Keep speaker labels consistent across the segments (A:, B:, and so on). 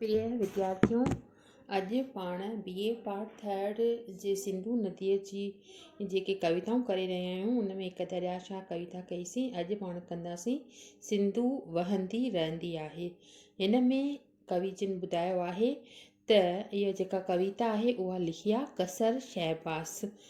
A: پريا وديارٿيو! اڄ پاڻ بي اي پارٽ ٿرڊ جي سنڌو نديء جي جيڪي ڪويتائون ڪري رهيا آهيون ان ۾ هڪ دريا شاهه ڪويتا ڪئيسين اڄ پاڻ ڪنداسين سنڌو وهندي رهندي آهي هن ۾ ڪوي جن ٻڌايو آهي ته اها جيڪا ڪويتا آهي اها لکي آهي قصر شهباز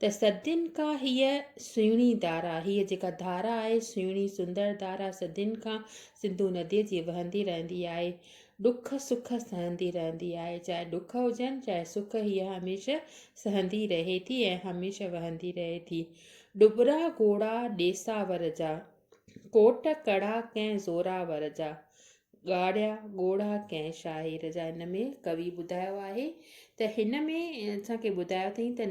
A: ته صدين کان هيء سهڻي ڌارا، هيء جيڪا ڌارا آهي، سهڻي سندر ڌارا صدين کان سنڌو نديء جي وهندي رهندي آهي. ڏک سک سهندي رهندي آهي. چاهي ڏک هجن، چاهي سک هيء هميشه سهندي رهي ٿي ۽ هميشه وهندي رهي ٿي. ڏٻرا گهوڙا ڏيساور جا، ڪوٽ ڪڙا ڪنهن زوراور جا. ڳاڙهيا ڳوڙها ڪنهن شاعر جا هن ۾ ڪوي ٻڌايو آهي ته هن ۾ اسان کي ٻڌايو اٿئي ته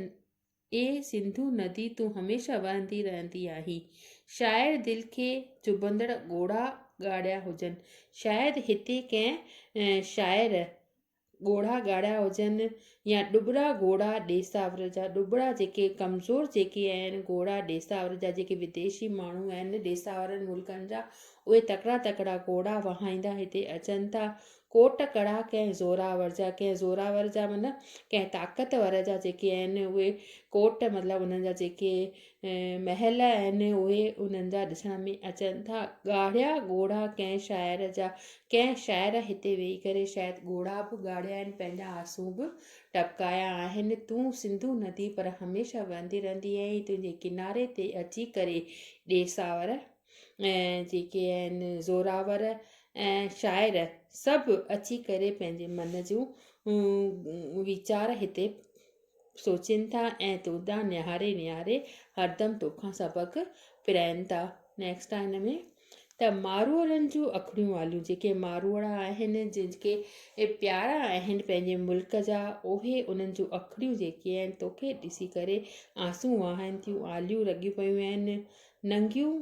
A: اي سنڌو ندي تون هميشه وهندي رهندي آهين شاعر دل کي چڀندڙ ڳوڙها ڳاڙهيا هجن شايد هتي ڪنهن شاعر ڳوڙها ڳاڙها هجن يا ڏٻرا ڳوڙها ڏيساور جا ڏٻرا جيڪي ڪمزور جيڪي آهن ڳوڙها ڏيساور جا جيڪي ويديشي ماڻهو آهن ڏيساورن ملڪن جا اهي تڪڙا تڪڙا ڳوڙها وهائيندا هتي اچن ٿا ڪوٽ ڪڙا ڪنهن زوراور جا ڪنهن زوراور جا مطلب ڪنهن طاقتور جا جيڪي آهن اهي ڪوٽ مطلب انهن جا جيڪي محل آهن، اهي انهن جا ڏسڻ ۾ اچن ٿا. ڳاڙهيا ڳوڙها ڪنهن شاعر جا؟ ڪنهن شاعر هتي ويهي ڪري شايد ڳوڙها به ڳاڙهيا آهن، پنهنجا آنسون به ٽپڪايا آهن. تون سنڌو ندي پر هميشه وهندي رهندي آهين، تنهنجي ڪناري تي اچي ڪري ڏيساور ۽ جيڪي آهن زوراور ۽ شاعر سڀ اچي ڪري پنهنجي من جون ويچار هتي سوچين ٿا ۽ تو ڏانهن نهاري نهاري هردم توکان سبق پرائين ٿا. Next آ هن ۾ ته ماروئڙن جون اکڙيون واليون جيڪي ماروئڙا آهن جن کي پيارا آهن پنهنجي ملڪ جا اهي انهن جون اکڙيون جيڪي آهن توکي ڏسي ڪري آنسون وهائن ٿيون آليون لڳيون پيون آهن ننگيون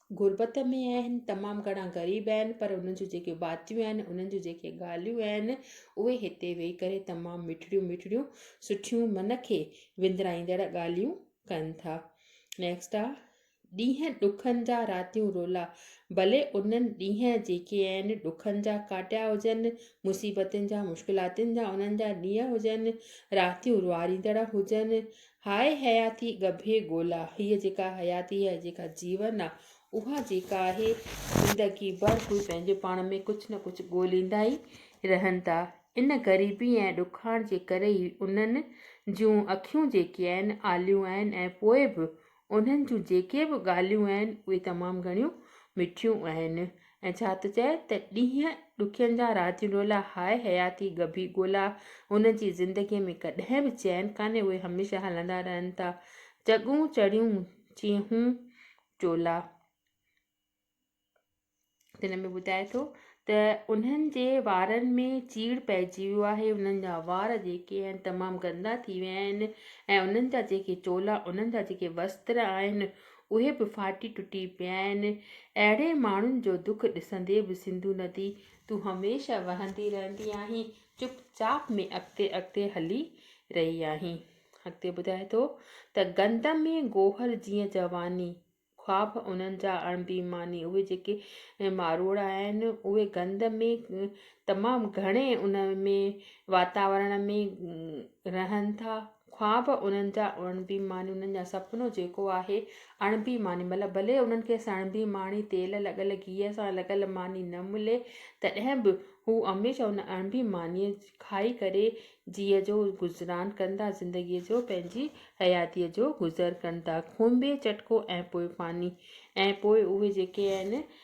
A: غربت ۾ آهن تمام گهڻا غريب آهن پر انهن جون جيڪي باتيون آهن انهن جون جيڪي ڳالهيون آهن اهي هتي ويهي ڪري تمام مٺڙيون مٺڙيون سٺيون من کي وندرائيندڙ ڳالهيون ڪن ٿا نيڪسٽ آ ڏينهن ڏکن جا راتيون رولا ڀلي انهن ڏينهن جيڪي آهن ڏکن جا ڪاٽيا هجن مصيبتن جا مشڪلاتن جا انهن جا ڏينهن هجن راتيون رواريندڙ هجن هاء حياتي ڳڀي ڳولا، هيء جيڪا حياتي آهي، جيڪا جيون آهي، اها جيڪا آهي، زندگي ڀر هي پنهنجي پاڻ ۾ ڪجهه نه ڪجهه ڳوليندا ئي رهن ٿا. ان غريبي ۽ ڏکاڻ جي ڪري ئي انهن جون اکيون جيڪي آهن، آليون آهن ۽ پوء به انهن جون جيڪي به ڳالهيون آهن، اهي تمام گهڻيون مٺيون آهن. ۽ ڇا ٿو چئي ته ڏينهن ڏکين جا رات ڊولا هاء حياتي ڳڀي ڳولا هن جي زندگيء ۾ ڪڏهن به چين ڪانهي اهي هميشه هلندا رهن ٿا چڳون چڙيون چيهون چولا. تن ۾ ٻڌائي ٿو ته انهن جي وارن ۾ چيڙ پئجي ويو آهي انهن جا وار جيڪي آهن تمام گندا ٿي ويا آهن ۽ انهن جا جيڪي چولا انهن جا جيڪي وستر آهن اهي به ڦاٽي ٽٽي پيا آهن. اهڙي ماڻهن جو دک ڏسندي به سنڌو ندي تون هميشه وهندي رهندي آهين چپ چاپ ۾ اڳتي اڳتي هلي رهي آهين. اڳتي ٻڌائي ٿو ته گند ۾ گوهر جيئن جواني، خواب انهن جا اڻ بي ماني اهي جيڪي ماروئڙا آهن اهي گند ۾ تمام گهڻي ان ۾ واتاورڻ ۾ رهن ٿا خواب انهن جا اڻ بي معني انهن جا سپنو جيڪو آهي اڻ بي معني مطلب ڀلي انهن کي سڻ بي ماڻي تيل لڳل گيهه سان لڳل ماني نه ملي تڏهن به هو هميشه ان اڻ بي مانيء کائي ڪري جيء جو گذران ڪن ٿا زندگيء جو پنهنجي حياتيء جو گذر ڪن ٿا کونبي چٽڪو ۽ پوء پاني ۽ پوء اهي جيڪي آهن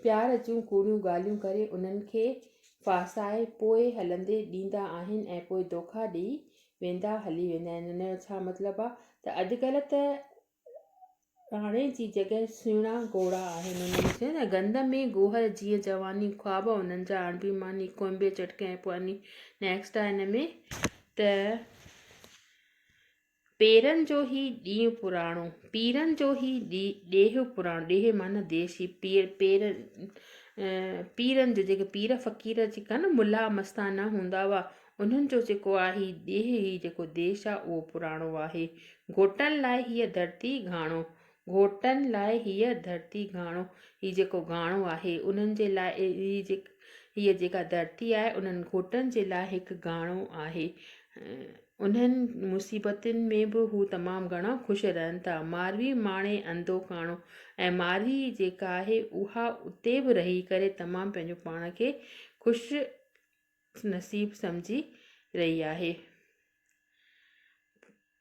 A: پيار جون ڪوڙيون ڳالهيون ڪري انهن کي ڦاسائي پوء هلندي ڏيندا آهن ۽ پوء دوکا ڏئي ويندا هلي ويندا آهن ان جو ڇا مطلب آهي ته اڄڪلهه ته راڻي جي جڳهه سهڻا گهوڙا آهن انهن ۾ چيو نه گند ۾ گوهر جيئن جواني خواب انهن جا اڻبي ماني ڪوئمبي چٽڪي ۽ پوء انهي نيڪسٽ آهي ان ۾ ته پيرن جو هي ڏينهن پراڻو، پيرن جو هي ڏيهه پراڻو، ڏيهه معنيٰ ديس هي پير پير پيرن جو جيڪي پير فقير جيڪا نه ملا مستانا هوندا هئا انهن جو جيڪو آهي هي ڏيهه هي جيڪو ديس آهي اهو پراڻو آهي گهوٽن لاء هيء ڌرتي گهاڻو گهوٽن لاء هيء ڌرتي گهاڻو، هي جيڪو گهاڻو آهي، انهن جي لاء هيء جيڪا ڌرتي آهي، انهن گهوٽن جي لاء هڪ گهاڻو آهي. انهن مصيبتن ۾ به هو تمام گهڻا خوش رهن ٿا. ماروي ماڻي انڌو ڪاڻو ۽ ماروي جيڪا آهي، اها اتي به رهي ڪري تمام پنهنجو پاڻ کي خوش نصيب سمجهي رهي آهي.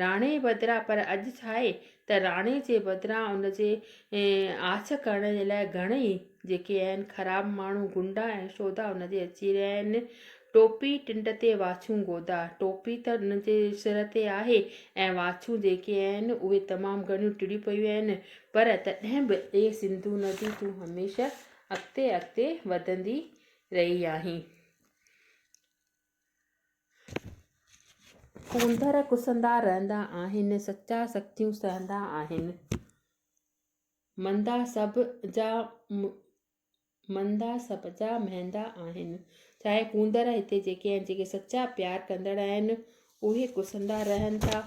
A: راڻي بدران پر اڄ ڇا آهي ته راڻي جي بدران ان جي آڇ ڪرڻ جي لاء گهڻئي جيڪي آهن خراب ماڻهو گنڊا ۽ شودا ان جي اچي رهيا آهن. ٽوپي ٽنڊ تي واڇون گودا، ٽوپي ته ان جي سر تي آهي ۽ واڇون جيڪي آهن اهي تمام گهڻيون ٽڙيون پيون آهن پر تڏهن به اي سنڌو ندي تون هميشه اڳتي اڳتي وڌندي رهي آهين. ڪونڌر ڪسندا رهندا آهن، سچا سختيون سهندا آهن. مندا سڀ جا مندا سڀ جا مهندا آهن. چاهي ڪونڌر هتي جيڪي آهن جيڪي سچا پيار ڪندڙ آهن اهي ڪسندا رهن ٿا.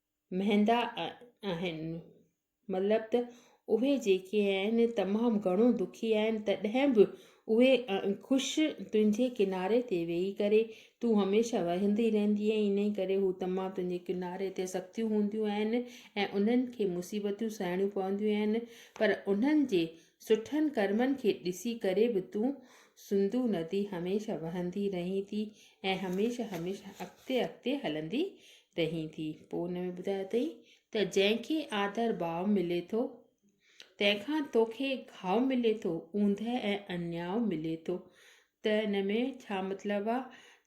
A: مهندا آهن مطلب ته اهي جيڪي آهن تمام گهڻو دکي آهن تڏهن به اهي خوش تنهنجي ڪناري تي ويهي ڪري تون هميشه وهندي رهندي آهي انهي ڪري هو تمام تنهنجي ڪناري تي سختيون هونديون آهن ۽ انهن کي مصيبتون سهڻيون پونديون آهن پر انهن جي سٺن ڪرمن کي ڏسي ڪري به تون سنڌو ندي هميشه وهندي رهين ٿي ۽ هميشه هميشه اڳتي اڳتي هلندي رهين ٿي پوء ان ۾ ٻڌايو اٿئي ته جنهن کي آڌر ڀاء ملي ٿو تنهن کان توکي گهاء ملي ٿو اوندهه ۽ انياء ملي ٿو ته ان ۾ ڇا مطلب آ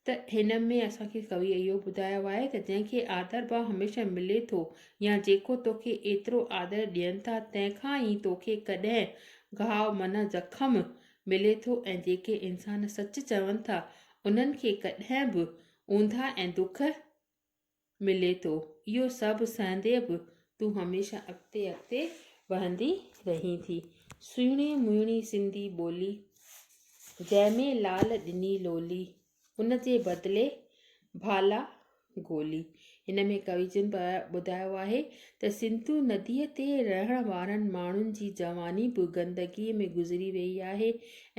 A: ته هن ۾ اسان کي ڪوي اهو ٻڌايو آهي ته جنهن کي آڌر ڀاء هميشه ملي ٿو يا جيڪو توکي ايترو آڌر ڏين ٿا تنهن کان ئي توکي ڪڏهن گهاء معنيٰ زخم ملي ٿو ۽ جيڪي انسان سچ چون ٿا انهن کي ڪڏهن به اونداهه ۽ دک ملي ٿو. اهو سڀ سهندي به تون هميشه اڳتي اڳتي وهندي رهين ٿي. سهڻي مهڻي سنڌي ٻولي، جنهن ۾ لال ڏني لولي، ان جي بدلي ڀالا گولي. هن ۾ ڪوي جن ٻڌايو آهي ته سنڌو نديء تي رهڻ وارن ماڻهن جي جواني به گندگيء ۾ گذري ويئي آهي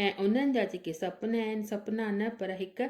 A: ۽ انهن جا جيڪي سپنا آهن، سپنا نه پر هڪ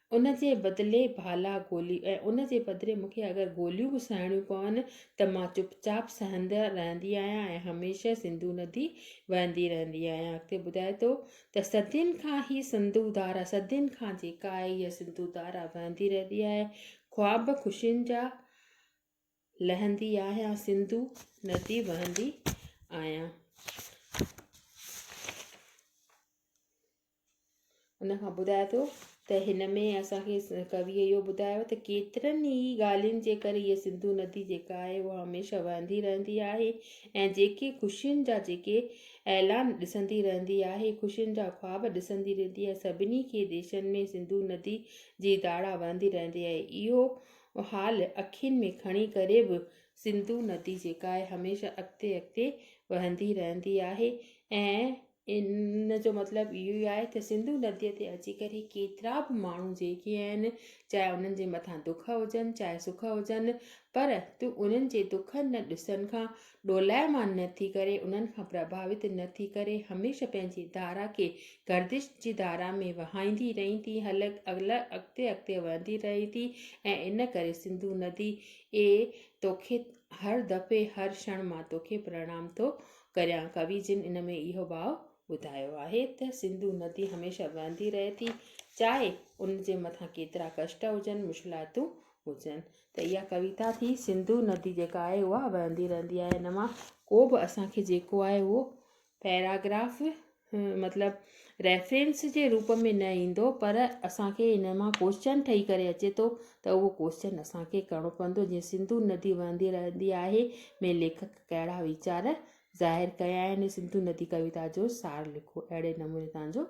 A: ان جي بدلي ڀالا گولي ۽ ان جي بدلي مون کي اگر گوليون به سهڻيون پون ته مان چپ چاپ سهندي رهندي آهيان ۽ هميشه سنڌو ندي وهندي رهندي آهيان اڳتي ٻڌائي ٿو ته صدين کان هي سنڌو ڌارا صدين کان جيڪا آهي هيء سنڌو ڌارا وهندي رهندي آهي خواب خوشين جا لهندي آهيان سنڌو ندي وهندي آهيان ان کان ٻڌائي ٿو ته هن ۾ اسان کي ڪويء اهو ٻڌايو ته ڪيترن ئي ڳالهين جي ڪري هيء سنڌو ندي جيڪا آهي هو هميشه وهندي رهندي آهي ۽ جيڪي خوشين جا جيڪي اعلان ڏسندي رهندي آهي خوشين جا خواب ڏسندي رهندي آهي سڀني کي ديشن ۾ سنڌو ندي جي ڌاڙا وهندي رهندي آهي اهو حال اکين ۾ کڻي ڪري به سنڌو ندي جيڪا آهي هميشه اڳتي اڳتي وهندي رهندي آهي ۽ ان جو مطلب اهو ئي آهي ته سنڌو نديء تي اچي ڪري ڪيترا به ماڻهو جيڪي آهن چاهي انهن جي مٿان دک هجن چاهي سک هجن پر تون انهن جي دکن نه ڏسن کان ڏولائمان نه ٿي ڪري انهن کان پرڀاوت نه ٿي ڪري هميشه پنهنجي ڌارا کي گردش جي ڌارا ۾ وهائيندي رهين ٿي هل اڳتي اڳتي وهندي رهي ٿي ۽ ان ڪري سنڌو ندي اي توکي هر دفعي هر شڻ مان توکي پرڻام ٿو ڪريان ڪوي جن ان ۾ اهو ڀاء ٻڌايو آهي ته سنڌو ندي هميشه وهندي رهي ٿي چاهي ان جي مٿان ڪيترا ڪشٽ هجن مشڪلاتون هجن ته اها ڪويتا ٿي سنڌو ندي جيڪا آهي اها وهندي رهندي آهي ان مان ڪو به اسان کي جيڪو آهي اهو پيراگراف مطلب ريفرنس جي روپ ۾ نه ايندو پر اسانکي ان مان ڪوشچن ٺهي ڪري اچي ٿو ته اهو ڪوشچن اسانکي ڪرڻو پوندو جيئن سنڌو ندي وهندي رهندي آهي ۾ ليکڪ ڪهڙا ويچار ظاهر ڪيا آهن سنڌو ندي ڪويتا جو سار لکو اهڙي نموني تنهنجو